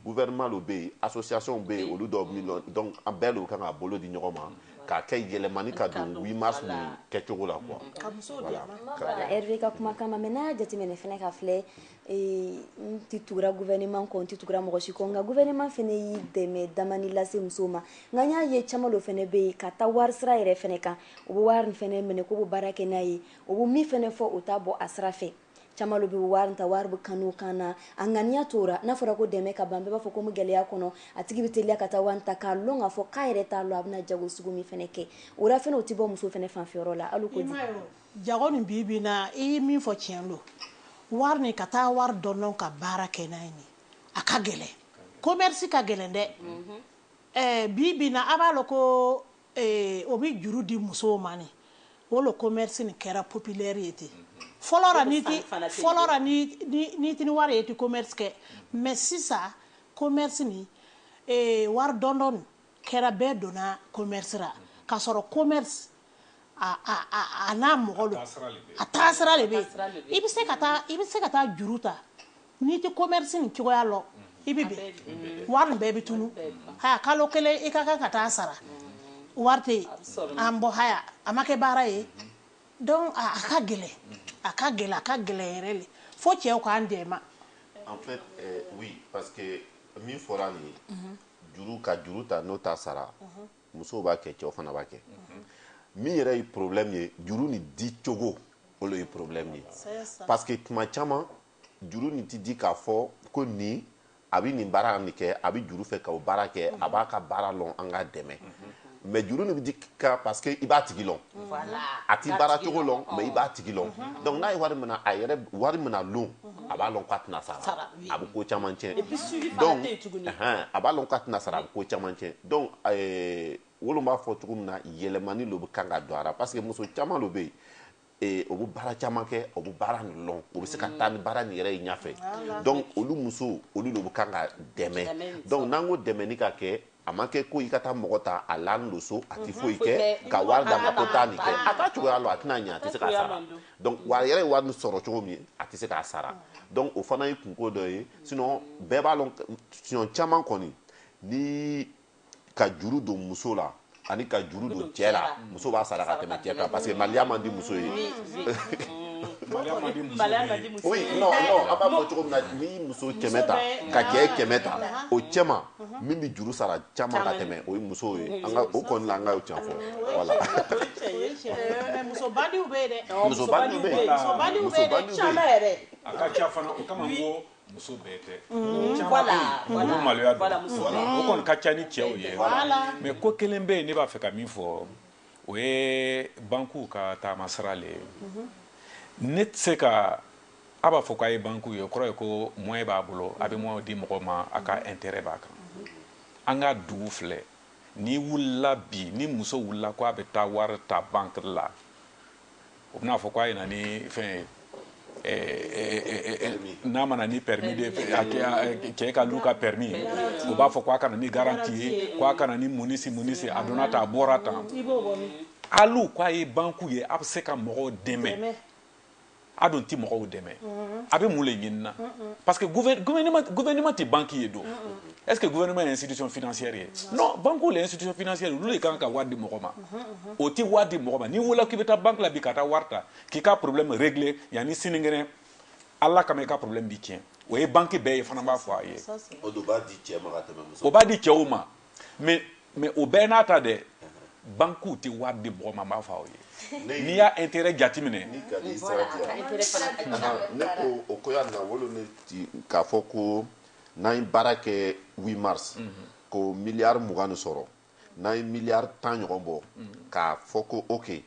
gouvernement lo bɛ yen association bɛ yen olu dɔw bɛ lɔn donc an bɛɛ lo bɛ kan ka bolo di ɲɔgɔn ma k'a kɛ yɛlɛmani ka don 8 mars nin kɛcogo la quoi ka musow dɛmɛ voilà Hervé ka kumakan ma mais n'a y'a jateminɛ fana ka filɛ ee n tɛ tugura gouvernement kɔ n tɛ tugura mɔgɔ si kɔ nka gouvernement fana ye dɛmɛ damani lase musow ma nka n y'a ye caman lo fana bɛ yen ka taa wari sira yɛrɛ fana kan u bɛ wari fana minɛ k'u bɛ baara kɛ n'a ye u bɛ min fana fɔ u t'a bɔ a sira fɛ caman lo bɛ wari ta wari bɛ kanu kan na a ŋaniya tora n'a fɔra ko dɛmɛ ka ban bɛɛ b'a fɔ ko n bɛ gɛlɛya kɔnɔ a tigi bɛ teliya ka taa wari ta k'a lɔn k'a fɔ k'a yɛrɛ t'a lɔn a bɛna jago sugu min fana kɛ o la fana o tɛ bɔ muso fana fanfɛyɔrɔ la hali o ko jugu Jago nin bi bi in na, i ye min fɔ tiɲɛ lo. Wari nin, ka taa wari dɔndɔn ka baara kɛ n'a ye nin, a ka gɛlɛn. Commerce ka gɛlɛn dɛ! Ɛɛ, bi bi in na, a b'a lɔn ko ee, o bɛ juru di musow ma nin. O lo commerce nin kɛra populaire ye ten. Fɔlɔ la, n'i tɛ, fɔlɔ la, n'i tɛ ni wari ye, i tɛ commerce kɛ. Mais sisan, commerce nin, ee, wari dɔndɔn nin. kɛra bɛɛ donna commerce ra k'a sɔrɔ commerce a a a a n'a mɔgɔ lo a taasira le bɛ yen i bɛ se ka taa i bɛ se ka taa juru ta n'i tɛ commerce nin cogoya lɔn i bɛ bɛn wari nin bɛɛ bɛ tunu haya kalo kelen i ka kan ka taa sara wari tɛ yen ah bon haya a ma kɛ baara ye donc a ka gɛlɛn a ka gɛlɛn a ka gɛlɛn yɛrɛ le fo cɛw k'an dɛmɛ en fait euh, oui parce que min fɔra nin ye juru ka juru ta n'o t'a sara musow b'a kɛ cɛw fana b'a kɛ min yɛrɛ ye problème ye juru nin di cogo o le ye problème ye parce que tuma caman juru nin ti di k'a fɔ ko nin a bɛ nin baara nin kɛ a bɛ juru fɛ ka o baara kɛ a b'a ka baara lɔn an k'a dɛmɛ mais juru nin bɛ di ka parce que i b'a tigi lɔn a t'i baara cogo lɔn mais i b'a tigi lɔn donc n'a ye wari mina a yɛrɛ wari mina lon a b'a lɔn k'a tɛna sara a bɛ ko caman cɛn a b'a lɔn k'a tɛna sara a bɛ ko caman cɛn donc olu b'a fɔ cogo min na yɛlɛmani lo bɛ kan ka don a ra parce que muso caman lo bɛ yen ee, o bɛ baara caman kɛ o bɛ baara nin lɔn o bɛ se ka taa ni baara nin yɛrɛ ye ɲɛfɛ donc olu muso olu lo bɛ kan ka dɛmɛ donc n'an ko dɛmɛni ka kɛ a ma kɛ ko i ka taa mɔgɔ ta a laanin lo so a tɛ foyi kɛ ka wari d'a ma ko taa nin kɛ a t'a cogoya lɔn a tɛna ɲɛ a tɛ se k'a sara donc wa a yɛrɛ ye wari nin sɔrɔ cogo min a tɛ se k'a sara donc o fana ye kunko dɔ ye sinon bɛɛ b'a lɔn siɲɛ caman kɔni ni ka juru don muso la ani ka juru don cɛ la muso b'a sara ka tɛmɛ cɛ kan parce que maliya man di muso ye oui non non an b'a fɔ cogo min na n'i muso kɛmɛ ta ka cɛ kɛmɛ ta o cɛma min bɛ juru sara caman ka tɛmɛ o ye muso ye an ka o kɔni la an ka can fɔ voilà muso bandiw bɛ yen dɛ muso bandiw bɛ yen muso bandiw bɛ yen caman yɛrɛ a ka ca fana o kama n ko muso bɛɛ tɛ mm-hmm. caman bɛ yen olu maloya don o kɔni ka ca ni cɛw ye mais ko kelen bɛ yen ne b'a fɛ ka min fɔ o ye bankuw ka taama sira le ye mm-hmm. ne tɛ se ka a b'a fɔ k'a ye bankuw ye o kɔrɔ ye ko moyen b'a bolo a bɛ moyen di mɔgɔ ma a ka mm-hmm. intérêt b'a kan an ka dugu filɛ n'i wulila bi ni muso wulila ko a bɛ taa wari ta banque la o bɛna a fɔ k'a ye na ni fɛn ye n'a ma na ni permis de cɛ ka lu ka permis ye o b'a fɔ k'a ka na ni garanti ye k'a ka na ni munisi munisi a donna tan a bɔra tan alu k'a ye banku ye a bɛ se ka mɔgɔw dɛmɛ a dun tɛ mɔgɔw dɛmɛ a bɛ mun le ɲinina parce que gouvernement tɛ banque ye don est ce que gouvernement ye institution financière ye non banque le institution financière olu de kan ka wari di mɔgɔ ma o tɛ wari di mɔgɔ ma n'i wulila k'i bɛ taa banque la bi ka taa wari ta k'i ka problème régler yanni sininkɛnɛ ala kama i ka problème bi tiɲɛ o ye banque bɛɛ ye fana b'a fɔ a ye o b'a di cɛw ma ka tɛmɛ muso o b'a di cɛw ma mais mais o bɛɛ n'a ta dɛ bankuw tɛ wari di mɔgɔ ma n b'a fɔ aw ye n'i y'a intérêt jateminɛ ni ka n'i sara diya ne ko o ko y'a na o lo ne k'a fɔ ko n'an ye baara kɛ 8 mars ko miliyari mugan ni sɔrɔ n'an ye miliyari tan ɲɔgɔn bɔ k'a fɔ ko ok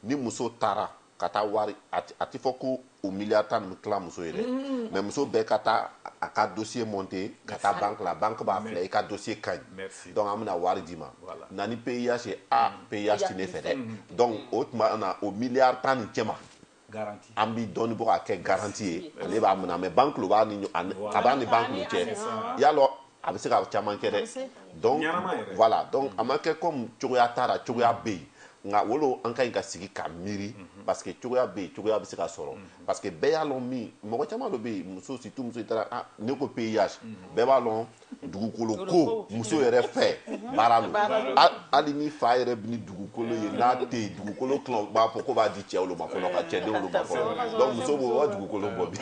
ni muso taara ka taa wari a tɛ fɔ ko o miliyari tan nin tila muso ye dɛ mais muso bɛɛ ka taa a ka dossier monter ka taa banque la banque b'a filɛ i ka dossier ka ɲi donc an bɛna wari d'i ma na ni PUH ye a PUH tɛ ne fɛ dɛ donc o tuma na o miliyari tan nin cɛma an bi dɔɔni bɔ k'a kɛ garanti ye ale b'a minɛ mais banque lo b'a ni a b'a ni banque lo cɛ y'a lɔn a bɛ se ka caman kɛ dɛ donc voilà donc a ma kɛ comme cogoya t'a la cogoya bɛ yen nka o lo an ka ɲi ka sigi ka miiri mhm. parce que cogoya bɛ yen cogoya bɛ se ka sɔrɔ mhm. parce que bɛɛ y'a lɔn min mɔgɔ caman lo bɛ yen muso surtout muso i taara ah, ne ko PUH mhm. bɛɛ b'a lɔn dugukolo ko muso yɛrɛ fɛ baara lo hali ni fa yɛrɛ bɛ ni dugukolo ye n'a tɛ yen dugukolo tuma b'a fɔ ko b'a di cɛw lo ma fɔlɔ ka cɛdenw lo ma fɔlɔ donc muso b'o ka dugukolo bɔ bi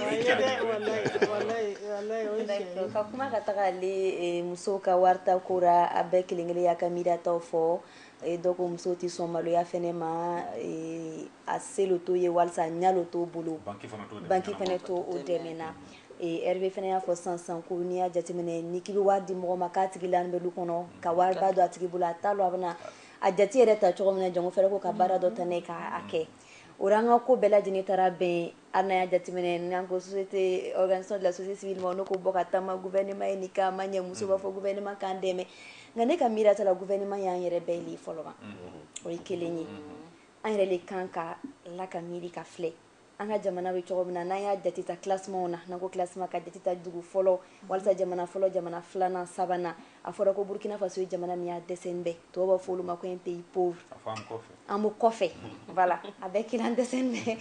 ka kuma ka taga ale eh, muso ka warita ko ra a bɛɛ kelen kelen y'a ka miirataw fɔ eh, dɔ ko muso tɛ sɔn maloya fɛnɛ ma eh, a se lo t'o ye walisa a ɲa lo t'o bolo banki fɛnɛ t'o dɛmɛ na Hervé fana y'a fɔ sisan sisan ko n'i y'a jateminɛ ni k'i bɛ wari di mɔgɔ ma k'a tigi laalen bɛ du kɔnɔ ka wari ba don a tigi bolo a t'a lɔn a bɛna a jate yɛrɛ ta cogo min na jango fɛrɛ ko ka baara dɔ ta n'a ye k'a kɛ o la an ka ko bɛɛ lajɛlen taara bɛn hali n'an y'a jateminɛ n'an ko société organisation de la société civile ma n'o ko bɔ ka taama gouvernement ye nin kɛ a ma ɲɛ muso b'a fɔ gouvernement k'an dɛmɛ nka ne ka miiriya ta la gouvernement y'an yɛrɛ bɛɛ le ye fɔlɔ ban o ye kelen ye an yɛrɛ le kan ka la ka miiri ka filɛ an ka jamana bɛ cogo min na n'an y'a jate ta classement na n'an ko classement ka jate ta dugu fɔlɔ walisa jamana fɔlɔ jamana filanan sabanan a fɔra ko Burkina Faso ye jamana min y'a dɛsɛn bɛ tubabu b'a fɔ o lo ma ko un pays pauvre an b'o kɔfɛ voilà a bɛɛ kelen an dɛsɛn bɛ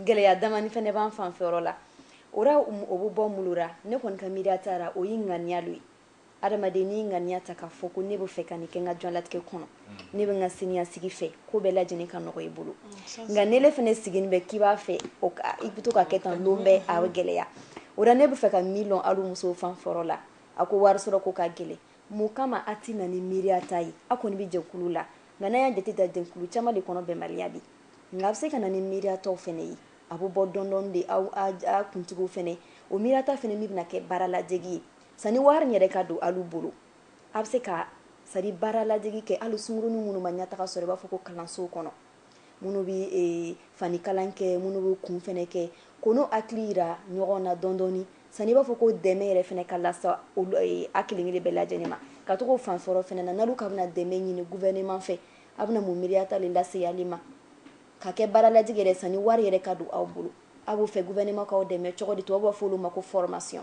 gɛlɛya damani fɛnɛ b'an fanfɛ yɔrɔ la o ra o bɛ bɔ mun lo ra ne kɔni ka miiriya ta ra o y'i ŋaniya lo ye Adamaden n'i ŋaniya ta k'a fɔ ko ne bɛ fɛ ka nin kɛ n ka diɲɛlatigɛ kɔnɔ ne bɛ n ka siniɲɛsigi fɛ ko bɛɛ lajɛlen ka nɔgɔ i bolo nka n'e le fana sigilen bɛ k'i b'a fɛ i bɛ to ka kɛ tan don bɛɛ a bɛ gɛlɛya o la ne bɛ fɛ ka min lɔn alu musow fanfɛ yɔrɔ la a ko wari sɔrɔ ko ka gɛlɛn mun kama a tɛ na ni miiriya ta ye aw kɔni bɛ jɛkulu la nka n'an y'a jate ta jɛkulu caman de kɔnɔ bɛnbaliya bi nka a bɛ se ka na ni miiriya taw fana ye a bɛ bɔ dɔɔni dɔɔni de aw kuntigiw fana o miirata fana min bɛna kɛ baara ladege ye Sani wari in yɛrɛ ka don alu bolo, a bɛ se ka c'est à dire baara ladege kɛ hali sungurunin minnu ma ɲɛtaga sɔrɔ i b'a fɔ ko kalansow kɔnɔ, minnu bɛ fanikalan kɛ, minnu bɛ kun fana kɛ, k'o n'u hakili yira ɲɔgɔn na dɔɔni dɔɔni sani i b'a fɔ ko dɛmɛ yɛrɛ fana ka lase a kelen kelen bɛɛ lajɛlen ma, ka to k'o fan fɔlɔ fana na n'alu ka bɛna dɛmɛ ɲini gouvernement fɛ, a bɛna mun miiriya ta le lase ale ma? ka kɛ baara ladege yɛrɛ sani wari yɛrɛ ka don aw bolo, a b'o fɛ gouvernement k'aw dɛmɛ cogodi? Tubabuw b'a fɔ o lo ma ko formation.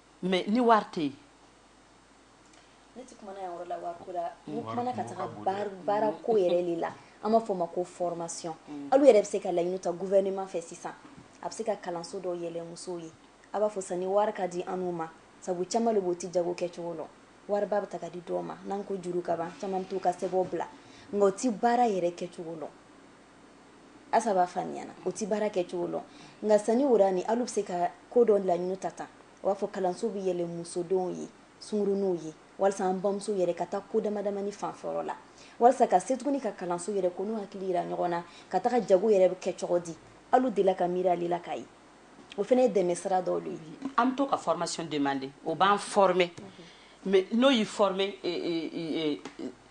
mais ni wari tɛ yen ne tɛ kuma na yan yɔrɔ la wari ko la n mm. kuma na ka taga baara ko yɛrɛ le la an b'a fɔ ma ko formation mm. alu yɛrɛ bɛ se ka laɲini ta gouvernement fɛ sisan a bɛ se ka kalanso dɔw yɛlɛ musow ye a b'a fɔ sani wari ka di anu ma sabu caman le b'o ti jago kɛcogo lɔn wariba bɛ ta ka di dɔw ma n'an ko juru ka ban caman bɛ t'u ka sɛbɛnw bila nka o ti baara yɛrɛ kɛcogo lɔn Asa b'a faamuya na o tɛ baara kɛ cogo lɔn nka sani o ra ni alu bɛ se ka ko dɔ laɲini ta tan u b'a fɔ kalanso bɛ yɛlɛ musodenw ye sungurunw ye walasa an bamuso yɛrɛ ka taa ko damadamani fan fɛ yɔrɔ la walasa ka se tuguni ka kalanso yɛrɛ ko n'u hakili yira ɲɔgɔn na ka taga jago yɛrɛ bɛ kɛ cogo di alu dela ka miiri ale la k'a ye o fana ye dɛmɛ sira dɔw de ye an bɛ to ka formation demander o b'an former mais n'o y'i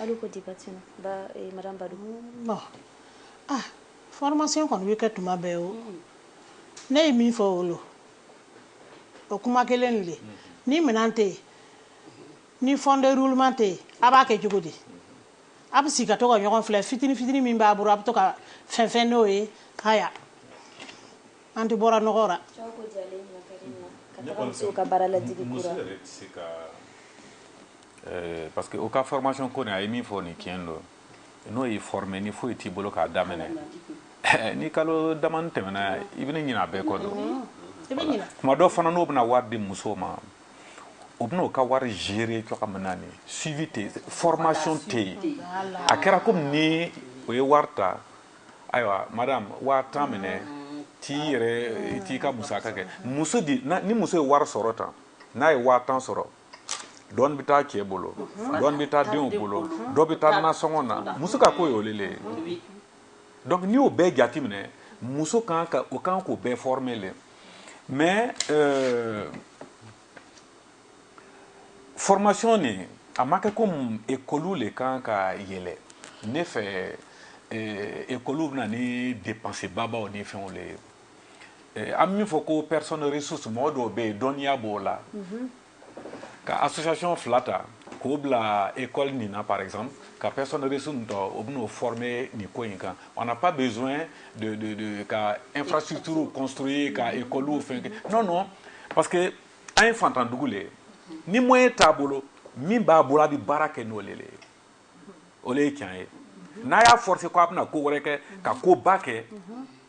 Alu ko di Batina madame Badou aa formation kɔni bɛ kɛ tuma bɛɛ o ne ye min fɔ o lo o kuma kelen le ni minɛn tɛ yen ni fond de roulement tɛ yen a b'a kɛ cogo di a bɛ sigi ka to ka ɲɔgɔn filɛ fitinin fitinin min b'a bolo a bɛ to ka fɛn fɛn n'o ye haya an tɛ bɔra nɔgɔ la musow ka baara laj Ɛɛ parce que o ka formation ko nin a ye min fɔ nin tiɲɛ don n'o y'i former ni foyi t'i bolo k'a daminɛ ɛɛ ni kalo damani tɛmɛna i bɛna ɲinɛ a bɛɛ kɔ de mm-hmm. tuma dɔ fana n'o bɛna wari di musow ma o bɛna o ka wari gérer cogoya min na ni suivi tɛ formation tɛ yen a kɛra komi ni o ye wari ta ayiwa madame waa tan minɛ t'i yɛrɛ t'i ka musaka kɛ muso di ni muso ye wari sɔrɔ tan n'a ye waa tan sɔrɔ dɔɔni bɛ taa cɛ bolo dɔɔni bɛ taa denw bolo dɔ bɛ taa nasɔngɔ na muso ka ko ye o le le ye donc n'i y'o bɛɛ jate minɛ muso kan ka o kan k'o bɛɛ former le mais euh, formation nin a ma kɛ comme ekɔliw le kan ka yɛlɛ ne fɛ ekɔliw bɛna ni dépense babaw ni fɛnw le ye eh, an min fɔ ko personne ressource mɔgɔ dɔw bɛ yen dɔnniya b'o la mhm. ka association fila ta k'o bila école nin na par exemple ka personne ressource nin tɔ o bɛn'o former nin ko in kan on n'a pas besoin de de de ka infrastructure construire ka mhm. école fɛn kɛ non non parce que an ye fantandugu le ye ni moyen t'a bolo min b'a bolo a bɛ baara kɛ n'o le le ye o le ye tiɲɛ ye n'a y'a forcer ko a bɛna ko wɛrɛ kɛ ka ko ba kɛ.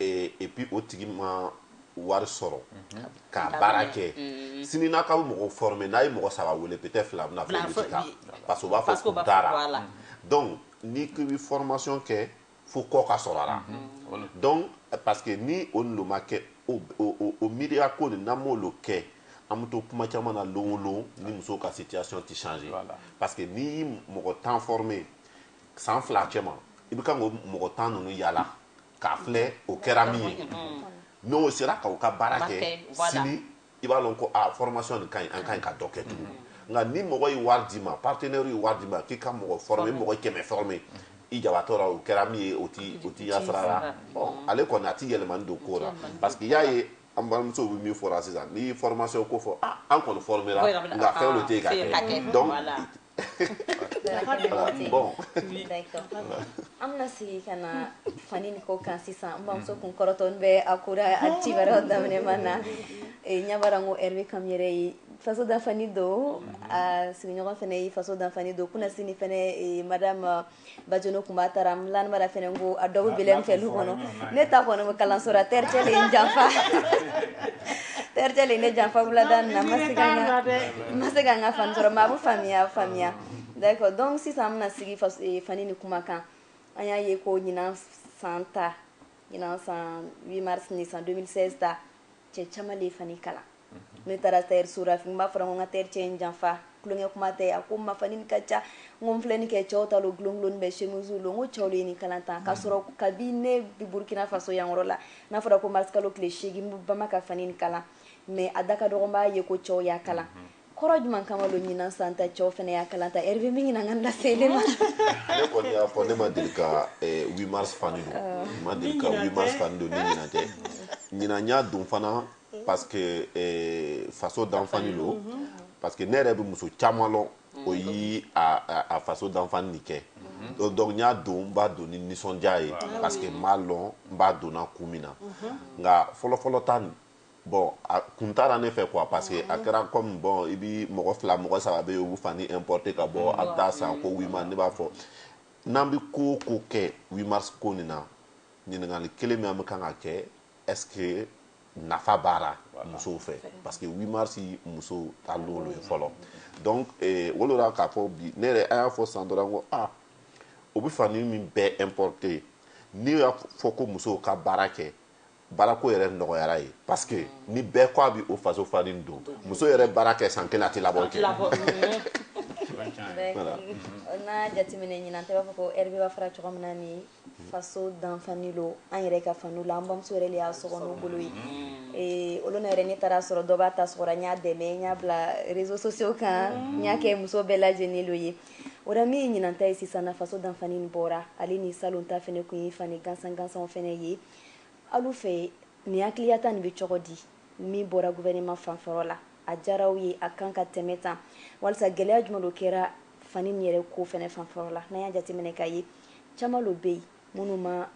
et puis o tigi ma wari sɔrɔ ka baara kɛ sini n'a ka mɔgɔ former n'a ye mɔgɔ saba wele peut-être fila bɛna fɔ olu tɛ taa parce que u b'a fɔ k'u taara donc ni ko bɛ formation kɛ fo kɔ ka sɔrɔ a la donc parce que ni o n'o ma kɛ o miiriya ko nin n'an m'olu kɛ an bɛ to kuma caman na lon o lon ni musow ka situation tɛ changer parce que n'i ye mɔgɔ tan former san fila cɛ ma i bɛ ka mɔgɔ tan ninnu yaala k'a filɛ o kɛra min ye n'o sera k'aw ka baara kɛ sini i b'a lɔn ko a formation nin ka ɲi an ka ɲi ka dɔ kɛ tugun nka ni mɔgɔ ye wari d'i ma partenaire ye wari d'i ma k'i ka mɔgɔ former mɔgɔ kɛmɛ former i jabatɔ la o kɛra min ye o ti o ti a sira la ale kɔni a ti yɛlɛmani don ko la parce que i y'a ye an balimamusow bɛ min fɔra sisan n'i ye formation ko fɔ ah an kɔni formera nka fɛn dɔ tɛ yen ka kɛ donc bon an bɛna sigi ka na fani nin ko kan sisan n bamuso kun kɔrɔtɔnin bɛ a ko ra a ci wɛrɛ daminɛ man na ɲabara n ko Hervé Kam yɛrɛ ye faso danfani don a sigiɲɔgɔn fana ye faso danfani don kunasini fana madame Bationo kun b'a taara lanmara fana ko a dɔ bɛ Belem fɛ lu kɔnɔ ne ta kɔni bɛ kalanso ra tailleur cɛ ye n janfa tailleur cɛ le ye ne janfa wulada nin na ma se ma se ka n ka fani sɔrɔ mais a bɛ faamuya faamuya d'accord donc sisan an bɛna sigi fani nin kuma kan an y'a ye ko ɲinan san ta ɲinan san huit mars nin san deux mille seize ta cɛ caman de ye fani kalan ne taara tailleur so ra n b'a fɔra ko n ka tailleur cɛ ye n janfa tulonkɛ kuma tɛ a ko n ma fani nin ka ca n ko n filɛ nin kɛ cɛw ta don bulonkolon bɛɛ chemise don n ko cɛw de ye nin kalan tan k'a sɔrɔ kabi ne bɛ burukina faso yanyɔrɔ la n'a fɔra ko marisikalo tile seegin bama ka fani nin kalan mais a da ka dɔgɔ n b'a ye ko cɛw y'a kalan kɔrɔ jumɛn kama don ɲinan san ta cɛw fana y'a kalan tan Hervé min ɲinan ka laseli ma ne kɔni y'a fɔ ne ma deli ka eh, huit mars fani don ah. ma deli ka huit mars fani don ni ɲinan tɛ ɲinan n y'a don fana parce que eh, faso danfani don mhm. parce que ne yɛrɛ bɛ muso caman lɔn o mhm. yi a faso danfani nin kɛ mhm. donc n y'a don n b'a don ni nisɔndiya ye parce que n b'a lɔn n b'a donna kun min na nka fɔlɔfɔlɔ ta nin bon a kun t'a ra ne fɛ quoi parce que a kɛra kɔmi bon i bɛ mɔgɔ fila mɔgɔ saba bɛ yen u bɛ fani importer ka bɔ a bɛ taa san ko huit mars ne b'a fɔ n'an bɛ ko o ko kɛ huit mars ko nin na ɲininkali kelen min an bɛ kan ka kɛ est-ce que nafa b'a ra musow fɛ parce que huit mars muso ta don ye fɔlɔ donc o lo ra k'a fɔ bi ne yɛrɛ an y'a fɔ san dɔrɔn ko aa o bɛ fani min bɛɛ importer n'i y'a fɔ ko musow ka baara kɛ baarako yɛrɛ nɔgɔyara ye parce que ni bɛɛ ko a bɛ o faso fani don muso yɛrɛ baara kɛ san kelen a tɛ labɔ kɛ n'a jateminɛ ɲinan ta n b'a fɔ ko Hervé b'a fɔra cogo min na ni faso danfani don an yɛrɛ ka fani la an bamuso yɛrɛ y'a sɔgɔ n'o bolo ye mm-hmm. olu yɛrɛ ne taara sɔrɔ dɔ b'a ta sɔgɔra n y'a dɛmɛ n y'a bila réseaux sociaux kan mm-hmm. n y'a kɛ muso bɛɛ lajɛ lajɛlen don ye o la min ye ɲinan ta ye sisan na faso danfani bɔra ale ni salon ta fana kun ye fani gansan gansanw fana ye Alu fɛ nin hakiliyata nin bɛ cogo di min bɔra gouvernement fanfɛyɔrɔ la a diyara aw ye a kan ka tɛmɛ tan walisa gɛlɛya jumɛn de kɛra fani nin yɛrɛ ko fɛnɛ fanfɛyɔrɔ la n'an y'a jateminɛ k'a ye caman de bɛ yen minnu ma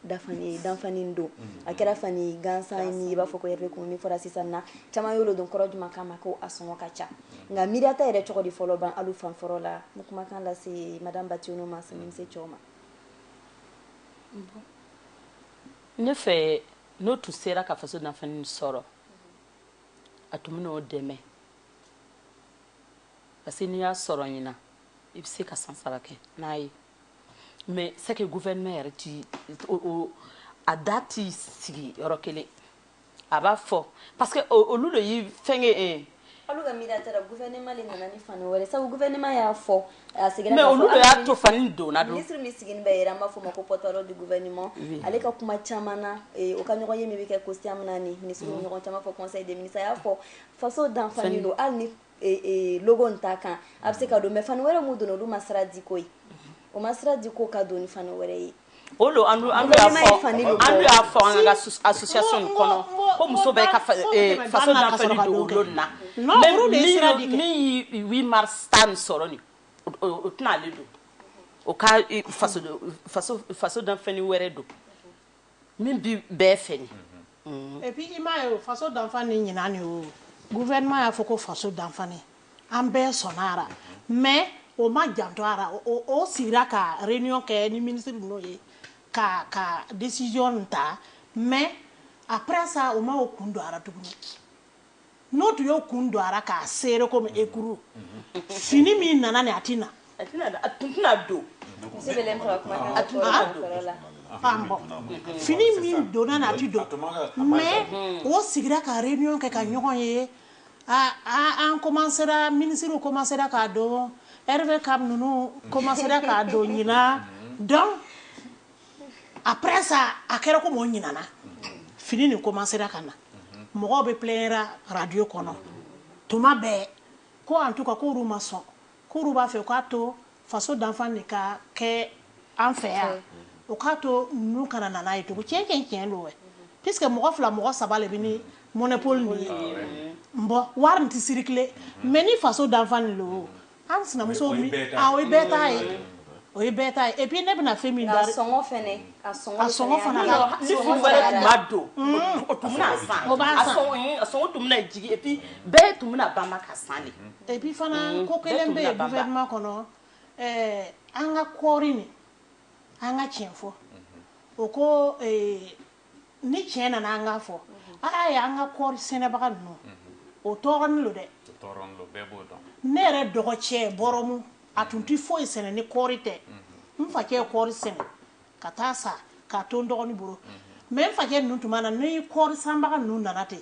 dafani danfani don a kɛra fani gansan ni i b'a fɔ ko yɛrɛ kun min fɔra sisan na caman y'olu don kɔrɔ jumɛn kama ko a sɔngɔ ka ca nka miiriyata yɛrɛ cogo di fɔlɔ ban alu fanfɛyɔrɔ la n kumakan lase madame Bationo ma sani se cɛw ma ne fɛ n'o tun sera ka faso danfani sɔrɔ a tun bɛn'o dɛmɛ parce que n'i y'a sɔrɔ ɲinan i bɛ se ka san saba kɛ n'a ye mais c'est que gouvernement yɛrɛ ti a da t'i sigi yɔrɔ kelen a b'a fɔ parce que olu de y'i fɛngɛ e olu ka miirita ra gouvernement de nana ni fani wɛrɛ sabu gouvernement y'a fɔ a seginna mais olu de y'a to fani donna don ministre min sigilen bɛ yɛrɛ an b'a fɔ ma ko porte-parole du gouvernement ale ka kuma caman na eh, o ka ɲɔgɔnye min bɛ kɛ Kosyam na ni ministre ɲɔgɔn caman fɔ conseil des ministres a y'a fɔ faso danfani don hali ni in t'a kan a bɛ se ka don mais fani wɛrɛ min donna olu ma sira di ko ye o ma sira di ko ka don ni fani wɛrɛ ye o don an y'a fɔ an ka association kɔnɔ ko muso bɛɛ ka faso danfani don o lon na min ye huit mars ta nin sɔrɔ nin o tɛna ale don o ka faso danfani wɛrɛ don min bɛ bɛɛ fɛ nin mm. et puis i m'a ye faso danfani ɲinan de y'o gouvernement y'a fɔ ko faso danfani an bɛɛ sɔnna a la mais o ma janto a la o sigira ka réunion kɛ ni ministre ninnu ye ka ka décision ta mais après ça o ma o kun don a la tuguni n'o tun y'o kun don a ra k'a serrer comme écru fini min nana nin a tɛ na fini min donna nin a tɛ don mais o sigira ka réunion kɛ ka ɲɔgɔn ye an commencera ministrew commencera k'a don Hervé Kam ninnu commencera k'a don ɲinan donc après ça a kɛra comme o ɲinana fini nin commencera ka na mɔgɔw bɛ plaignera radio kɔnɔ tuma bɛɛ ko en tout cas k'olu ma sɔn k'olu b'a fɛ k'a to faso danfani ka kɛ an fɛ yan o k'a to ninnu kana na n'a ye tugun tiɲɛ tiɲɛ tiɲɛ don wɛ puisque mɔgɔ fila mɔgɔ saba le bɛ ni monopole nin ye bon wari nin tɛ circuler mais ni faso danfani don An sinamuso min o ye bɛɛ ta ye, aa o ye bɛɛ ta ye, o ye bɛɛ ta ye et puis ne bɛna fɛn min da a sɔngɔ fana, a sɔngɔ fana ni fini wɛrɛ tun ma don o tun bɛna san, o b'a san, a sɔngɔ tun bɛna jigin et puis bɛɛ tun bɛna banba ka san de, et puis fana ko kelen bɛ yen gouvernement kɔnɔ ɛɛ an ka kɔɔri nin an ka tiɲɛ fɔ o ko ee ni tiɲɛ nana an k'a fɔ a y'a ye an ka kɔɔri sɛnɛbaga ninnu o tɔɔrɔnin don dɛ ne yɛrɛ dɔgɔcɛ Bɔrɔmu a tun tɛ foyi sɛnɛ ni kɔɔri tɛ n facɛ kɔɔri sɛnɛ ka taa sa k'a to n dɔgɔnin bolo mais n facɛ ninnu tuma na ni kɔɔri sanbaga ninnu nana ten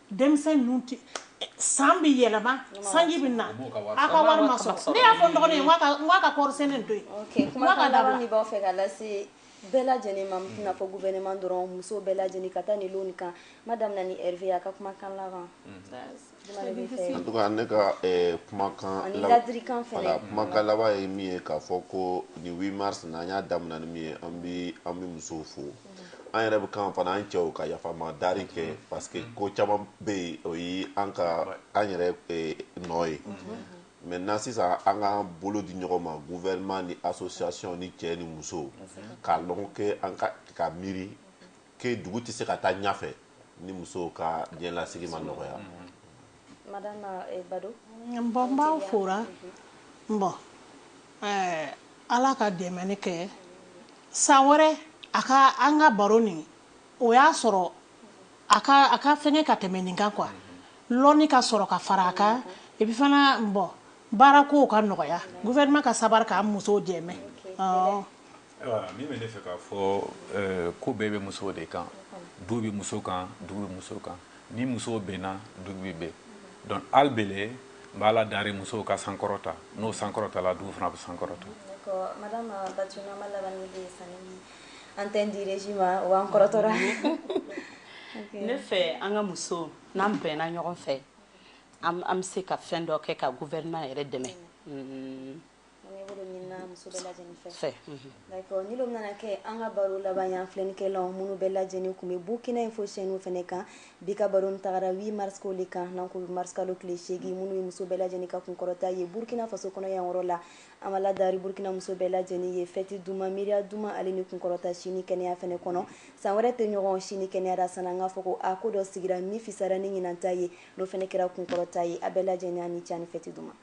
denmisɛn ninnu tɛ san bɛ yɛlɛma sanji bɛ na a ka wari ma sɔrɔ ne y'a fɔ n dɔgɔnin ye n k'a ka kɔɔri sɛnɛ to yen ok kumakan laban min b'aw fɛ ka lase bɛɛ lajɛlen ma n tɛna fɔ gouvernement dɔrɔn muso bɛɛ lajɛlen ka taa nin lon nin kan n b'a daminɛ ni Hervé ye a ka kumakan laban en tout cas ne ka eh, kumakan ani ladirikan fɛnɛ voilà kumakan laban ye min ye k'a fɔ ko nin 8 mars na an y'a daminɛ ni min ye an bi an bi musow fo an yɛrɛ bɛ kan fana an cɛw ka yafama dari kɛ parce que ko caman bɛ yen o ye an ka an yɛrɛ eh, nɔ ye maintenant sisan an ka bolo di ɲɔgɔn ma gouvernement ni association ni cɛ ni muso k'a lɔn que an k'a miiri que dugu tɛ se ka taa ɲɛfɛ ni musow ka diɲɛlasigi ma nɔgɔya Eh, bon n b'aw fora bon eh, ala ka dɛmɛni kɛ san wɛrɛ a ka an ka baro nin o y'a sɔrɔ a ka fɛngɛ ka tɛmɛ nin kan quoi lɔnni ka sɔrɔ ka fara a kan et puis fana bon baara kow ka nɔgɔya gouvernement ka sabali k'an musow dɛmɛ Min bɛ ne fɛ k'a fɔ ko bɛɛ bɛ musow de kan du bɛ muso kan dugu bɛ muso kan ni musow bɛnna dugu bɛ bɛn donc hali bele n bɛ ala dari musow ka sankɔrɔta n'o sankɔrɔtala dugu fana bɛ sankɔrɔta an tɛ di ma o kɔrɔtɔ ne fɛ an ka muso n'an bɛnna ɲɔgɔn fɛ an bɛ se ka fɛn dɔ kɛ ka gouvernement yɛrɛ dɛmɛ An ka baro laban filɛnikɛlaw minnu bɛɛ lajɛlen tun bɛ Burkina Info chaîne fana kan bi ka baro taara 8 mars de kan marisikalo tile 8 minnu ye muso bɛɛ lajɛlen ka kunkɔrɔta ye burukina faso kɔnɔ yan yɔrɔ la an b'ala dari burukina muso bɛɛ lajɛ lajɛlen ye fɛti duman miiriya duman ale ni kunkɔrɔta si ni kɛnɛya fana kɔnɔ san wɛrɛ tɛ ɲɔgɔn si ni kɛnɛya ra sa an k'a fɔ ko a ko dɔ sigira min fisara ni ɲinan ta ye n'o fana kɛra kunkɔrɔta ye a bɛɛ lajɛlen ni ce ani fɛti duman ma